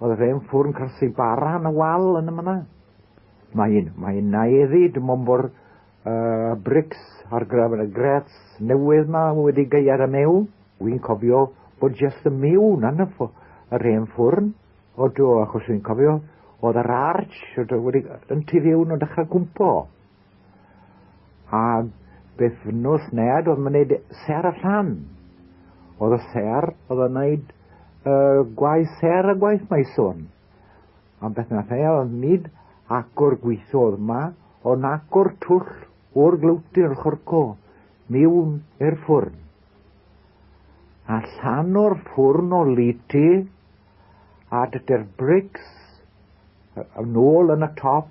Oedd y fe'n ffwrn cyrsi bara yn y wal yn y myna. Mae'n mae naeddi dim ond bod uh, brics ar graf y grets newydd ma wedi gael y mew. Wy'n cofio bod jes y mew na'n y ffwrn, yr hen ffwrn. O do, achos wy'n cofio oedd yr arch wedi yn tu fiwn o dechrau gwmpo. A bythnos ned oedd wneud ser a llan. Oedd y ser oedd yn wneud y gwaith ser a gwaith mae sôn. Am beth na lle oedd nid agor gweithiodd yma, ond agor twll o'r glywti o'r chorco miwn i'r ffwrn. A llan o'r ffwrn o liti a dydy'r brics yn ôl yn y top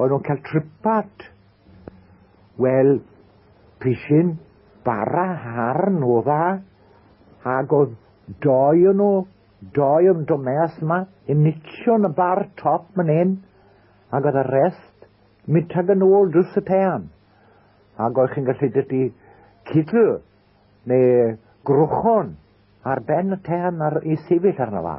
O'n nhw'n cael tripat. Wel, pisyn bara harn o dda, ac oedd doi o'n nhw, doi o'n domeas yma, yn nicio yn y bar top man hyn, ac oedd y rest, mynd tag yn ôl drws y tean. Ac oedd chi'n gallu dydy cydl, neu grwchon, ar ben y tean ar, i sefyll arno fa.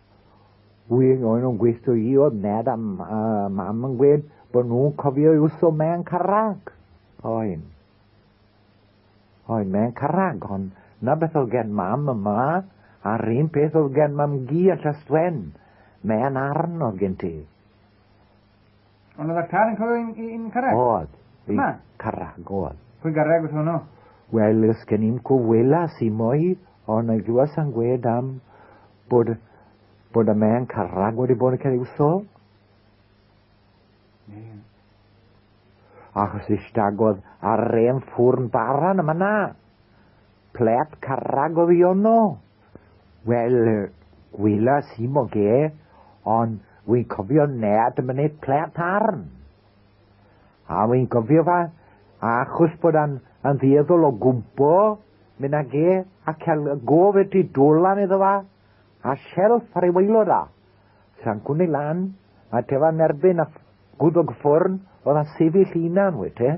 Un o'n nhw'n gweithio i oedd Ned a Mam yn gweud bod nhw'n cofio i'w so mewn carrag. Oen. Oen, mewn carrag, ond na beth oedd gen Mam yma, a'r un peth oedd gen Mam Gi yn Llastwen. Mewn arn oedd gen ti. Ond oedd y car yn clywed i'n i, i carreg? Oedd. Yma? Carreg oedd. Pwy garreg oedd hwnnw? Wel, ys gen i'n cwfwyla si mwy, ond y glywes yn gwed am bod, bod y mewn carreg wedi bod yn cael ei wsol. achos istagodd ar rem ffwrn baran yma na. Plep carrag o ddiono. Wel, gwelas i moge, ond wi'n cofio nad ym myned plant arn. A wi'n gofio fa, achos bod a'n yn ddueddol o gwmpo, mynd ag e, a cael y gof y tu dolan iddo fa, a shelf ar ei waelod a. Sa'n gwni lan, a tefa'n erbyn a gwddog ffwrn, oedd a sefyll unan, wete.